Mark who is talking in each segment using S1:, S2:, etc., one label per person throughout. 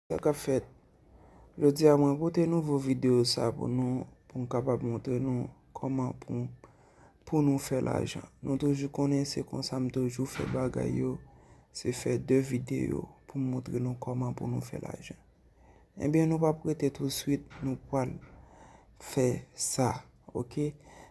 S1: Sa kap fèt? Jodi a mwen pote nouvo video sa pou nou pou m kapab montre nou kòman pou pou nou fè lajan. Nou toujou konnen se konsa m toujou fè bagay yo, se fè 2 video pou m montre nou kòman pou nou fè lajan. Ebyen nou pap rete touswit nou pwal fè sa ok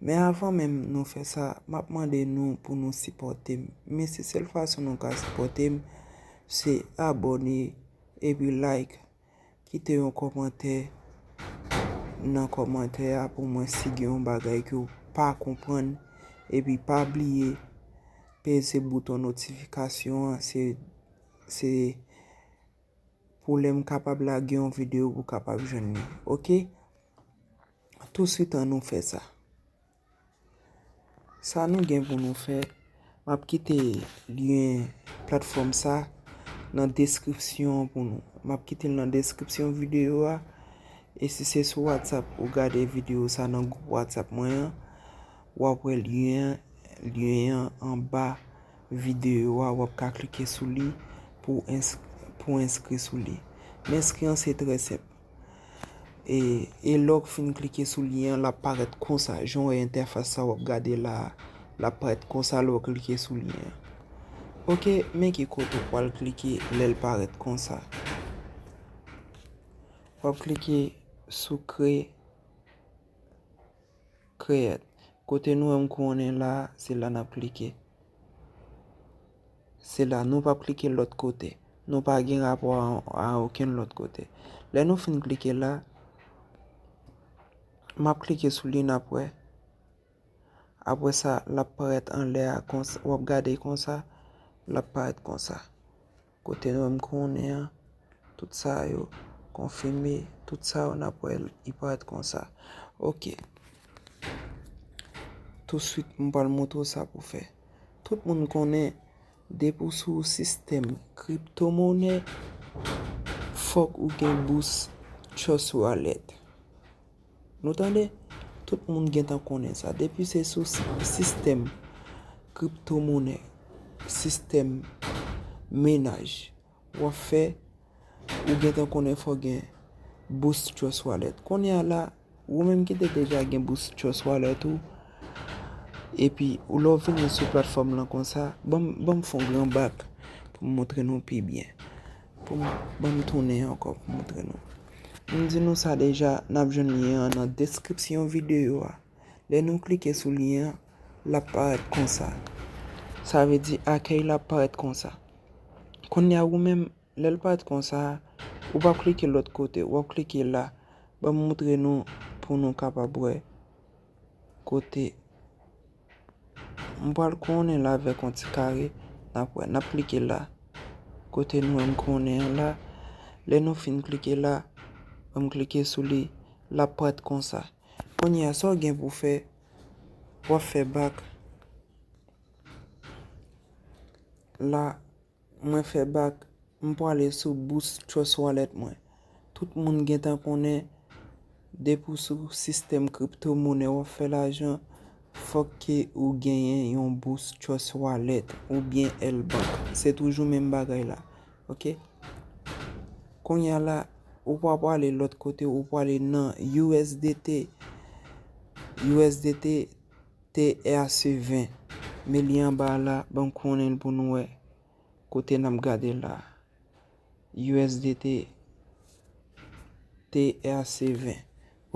S1: men avan menm nou fè sa map mande nou pou nou sipòtem men se sèl fason nou ka sipòtem se abòne epi like kite yon kòmantè nan kòmantè a pou mwen si gen yon bagay ke ou pa konprann epi pa bliye peze bouton notifikasyon an se se pou lèm kapab lage yon video pou kapab jwenn li ok tou swit an nou fè sa sa nou gen pou nou fè map kite lyen platfòm sa nan deskripsyon pou nou map kite nan deskripsyon video a e si se sou whatsapp ou gade video sa nan group whatsapp mwen an wap wè lyen an lyen an anba. Videyo a wap ka klike sou li pou enskri sou li. Enskri an se trè senp. E lè w fin klike sou lyen an lap parèt konsa. Jan w wè entèfas sa wap gade la a. Lap parèt konsa lè w klike sou lyen an. Ok men ki kote w pwal klike lè l parèt konsa. Wap klike sou kre. create kote nou wèm kou on est la se la nap klike se la nou pap klike lòt kote nou pa gen rapò a okenn lòt kote lè nou fin klike la map klike sou li nap wè apre sa lap parèt anlè a wap gade konsa lap parèt konsa. Kote nou menm konnen an, tout sa yo konfime, tout sa yo nap wè li pa ret konsa. Ok, touswit m pral montre w sa pou w fè. Tout moun konnen depi w sou sistèm kripto monè, fòk ou gen bous trust wallet. Nou tande? Tout moun gentan konnen sa. Depi se sou sistèm kripto monè, sistèm menaj, w ap fè, ou gentan konnen fò gen Boost Trust Wallet. Kounye a la, ou menm ki te deja gen Boost Trust Wallet ou, epi ou lè w vini sou platfòm lan konsa, ban m fon gran bak pou m montre nou pi byen. Pou m Ban m tounen ankò pou m montre nou. M di nou sa deja, n ap jwenn lyen an nan deskripsyon videyo a. Lè nou klike sou lyen an, l ap parèt konsa. Sa vle di akèy la ap parèt konsa. Kounye a ou menm, lè l parèt konsa, ou pa klike lòt kote, w ap klike la. Ban m montre nou pou nou kapab wè kote. M pral kouwonnen l avèk yon ti kare. N ap wè, n ap klike la. Kote nou wè m kouwonnen an la. Lè nou fin klike la, lè m klike sou li, l ap parèt konsa. Kounye a, sa w gen pou fè, w ap fè bak la. Mwen fè bak, m pwale sou Boost Trust Wallet mwen. Tout moun gentan konnen, depi w sou sistèm kripto monè w ap fè lajan, fòk ke ou genyen yon Boost Trust Wallet ou byen L Bank. Se toujou menm bagay la. Ok. Kounya la, ou pa pwale lòt kote, ou pwale nan USDT. USDT. TRC 20, Men li anba a la, banm konnen l pou nou wè kote nap gade l la. USDT TRC 20.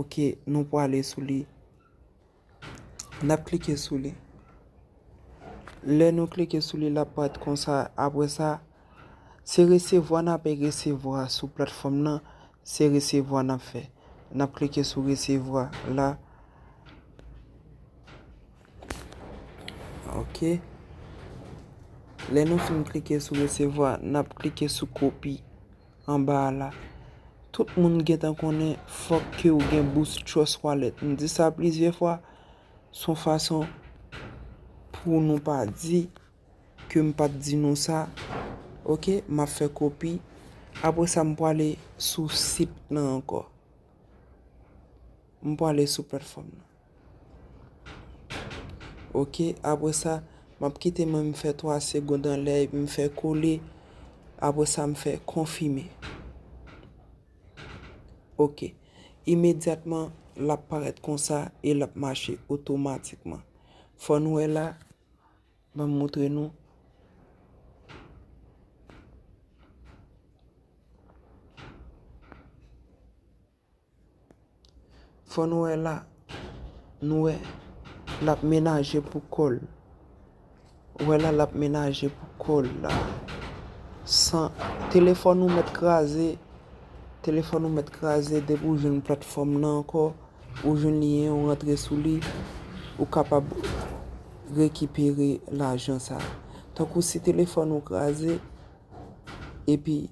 S1: Ok, nou pwale sou li. Nap klike sou li. Lè nou klike sou li lap paret konsa apre sa. Se resevwa n ape resevwa sou platfòm nan, se resevwa n ap fè. N ap klike sou resevwa la. Ok. Lè nou fin klike sou resevwa, n ap klike sou kopi anba a la. Tout moun gen tan konnen fòk ke ou gen bous Trust Wallet. M di sa plizyè fwa, son fason pou nou pa di. ke m pat di nou sa ok map fè kopi apre sa m pwale sou sit nan ankò m pwale sou platfòm nan ok apre sa map kite men m fè 3 segond anlè epi m fè kole apre sa m fè konfime ok imedyatman lap parèt konsa e lap mache otomatikman fò nou wè la. Ban m moutre nou. Fò nou wè la. Nou wè. L ap menaje pou kò l. Ou wè la l ap menaje pou kò l la. San. Telefòn ou mèt kraze. Telefòn ou mèt kraze depi ou jwenn platfòm nan ankò. Ou jwenn lien ou rantre sou li ou kapab rekipere lajan sa. Tankou si telefòn ou kraze epi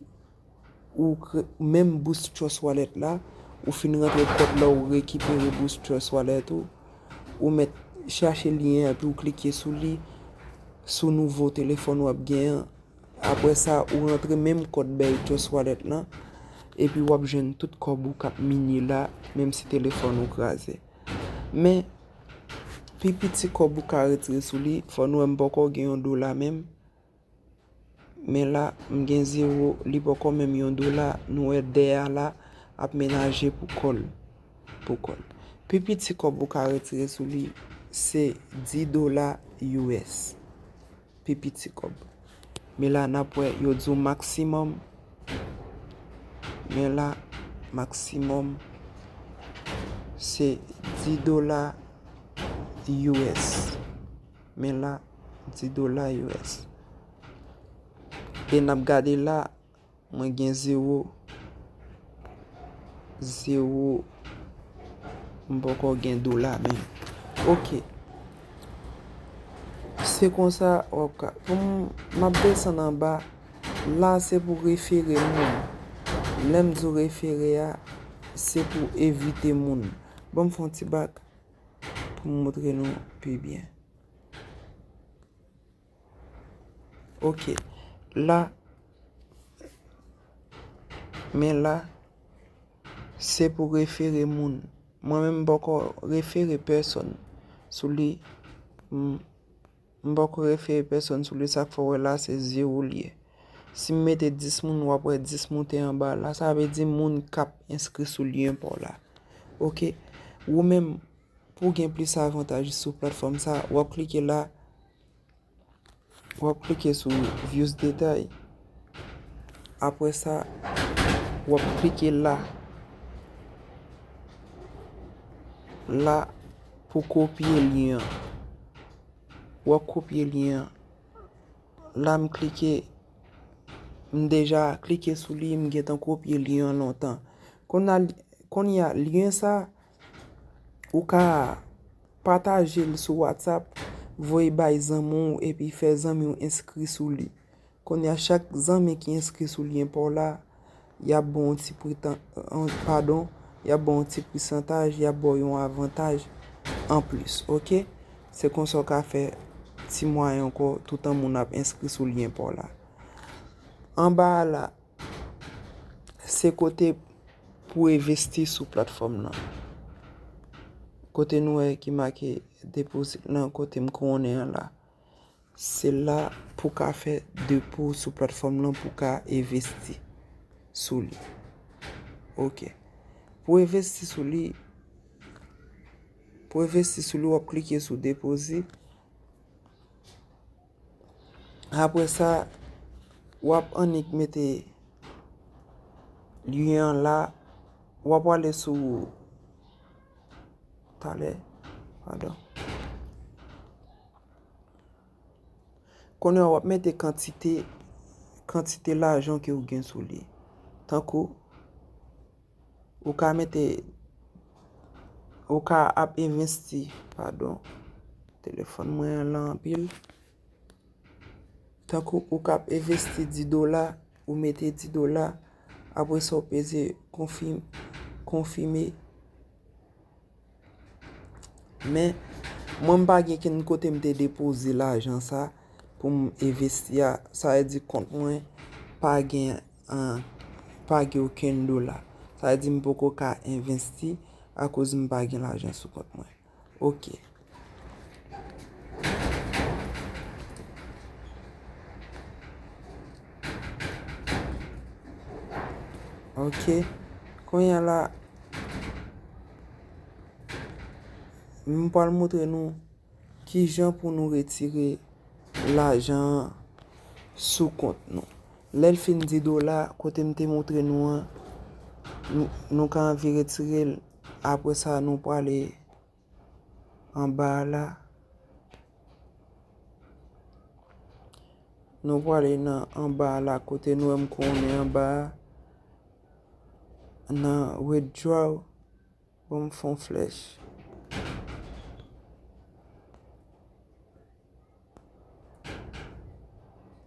S1: ou menm boost trust wallet la ou fin rantre kòd la ou rekipere boost trust wallet ou ou mèt chache lien epi ou klike sou li sou nouvo telefòn wap gen an. Aprè sa ou rantre menm kòd bèy Just Wallet lan epi wap jwenn tout kòb ou kap minye la menm si telefòn ou kraze. Men pi piti kòb ou ka retire sou li fò nou wè m poko gen yon dola menm men la m gen zewo li poko menm yon dola nou wè dè a la ap menaje pou kòl pou kòl. Pi piti kòb ou ka retire sou li se 10 dola us. pi piti kob. Men la nap wè yo di w maksimòm. Men la maksimòm se 10 dola us. Men la 10 dola us. E nap gade la. Mwen gen zero zero m poko gen dola menm ok se konsa wap ka poum map desann anba la se pou refere moun lèm di w refere a se pou evite moun banm fon ti bak poum moutre nou pi byen. Ok la Men la Se pou refere moun Mwen menm m poko refere pèsòn Sou li M poko refere pèsòn sou li sak fè w wè la se zewo l ye Si m mete 10 moun wap wè 10 moute anba la sa vle di moun kap enskri sou lyen pa w la ok ou menm. Pou w gen plis avantaj sou platfòm sa, w ap klike la, w ap klike sou views detay, apre sa w ap klike la, la pou kopye lyen an, w ap kopye lyen an, la m klike, m deja klike sou li, m gentan kopye lyen an lontan, kounye a lyen sa. Ou ka pataje l sou WhatsApp, voye bay zanmi w epi fè zanmi w enskri sou li. Kounye a chak zanmi ki enskri sou lyen pa w la, y ap ba w yon ti pwetan, padon, y ap ba w yon ti pwesantaj, y ap ba w yon avantaj anplis, ok? Se konsa w ka fè ti mwayen ankò toutan moun ap enskri sou lyen pa w la. Anba a la. Se kote pou envesti sou platfòm nan. Kote nou wè ki make deposit nan kote m konnen an la. Se la pou ka fè depo sou platfòm nan pou ka envesti sou li. Ok. Pou envesti sou li, pou envesti sou li wap klike sou deposit. Apre sa wap annik mete lyen an la, wap wale sou talè, pardon. Kounye an wap mete kantite, kantite lajan ke ou gen sou li. Tankou. Ou ka mete, ou ka ap envesti, padon, telefòn mwen an lan anpil. Tankou ou ka ap envesti 10 dola, ou mete 10 dola, apre sa ou peze konfime. Men, mwen m pa gen ken kote m te depoze lajan sa pou m envesti a. Sa vle di kont mwen pa gen an, pa gen okenn dola. Sa vle di m poko ka envesti akoz m pa gen lajan sou kont mwen. Ok. Ok, kounya la, m pral moutre nou ki jan pou nou retire lajan an sou kont nou. Lè l fin di dola, kote m te moutre nou an, nou ka anvi retire l, apre sa nou prale. Anba a la. Nou pwale nan anba a la kote nou wèm kou nou anba a. Nan withdraw pou m fon flèch.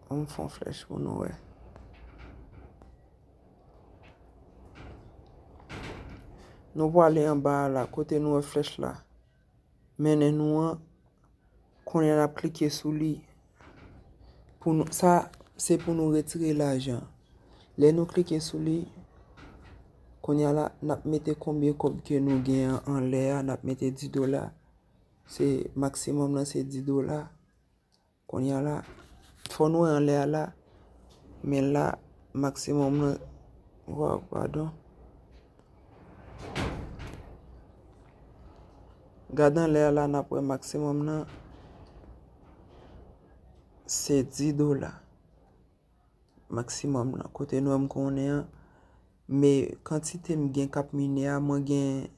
S1: An m fè yon flèch pou nou wè. Nou pwale anba a la, kote nou wè flèch la. Mennen nou an, kounye a n ap klike sou li. Sa, se pou nou retire lajan. Lè nou klike sou li, kounye a la, n ap mete konbyen kòb ke nou gen an lè a, n ap mete 10 dola. Se maximum lan se 10 dola. Konya la fò nou wè anlè a la men la maximum lan waw padon. Gad anlè a la nap wè maximum lan se 10 dola. Maximum lan kote nou wè m konnen an men kantite m gen kap mine a mwen gen.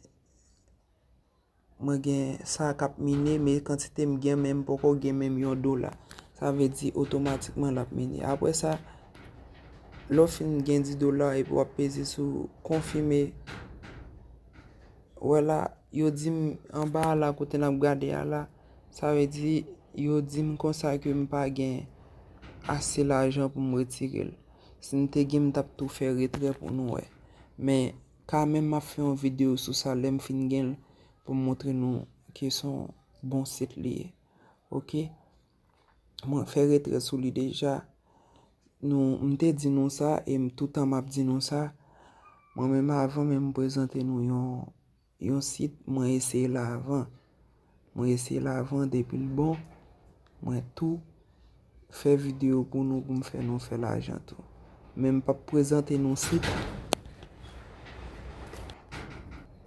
S1: Mwen gen sa k ap mine, men kantite m gen men m poko gen menm yon dola. Sa vle di otomatikman l ap mine. Apre sa, lè w fin gen 10 dola epi w ap peze sou konfime. Wè la, yo di m anba a la kote n ap gade a la, sa vle di yo di m konsa ke m pa gen ase lajan pou m retire l. Si m te gen m t ap tou fè retrè pou nou wè. Men. Ka menm map fè yon video sou sa lèm fin genl poum montre nou ke son bon sit li ye ok mwen fè retrè sou li deja nou m te di nou sa e m toutan map di nou sa mwen menm avan menm m prezante nou yon yon sit mwen eseye la avan. Mwen eseye l avan depi l bon mwen tou fè video pou nou pou m fè nou fè lajan tou. Men m pap prezante nou sit.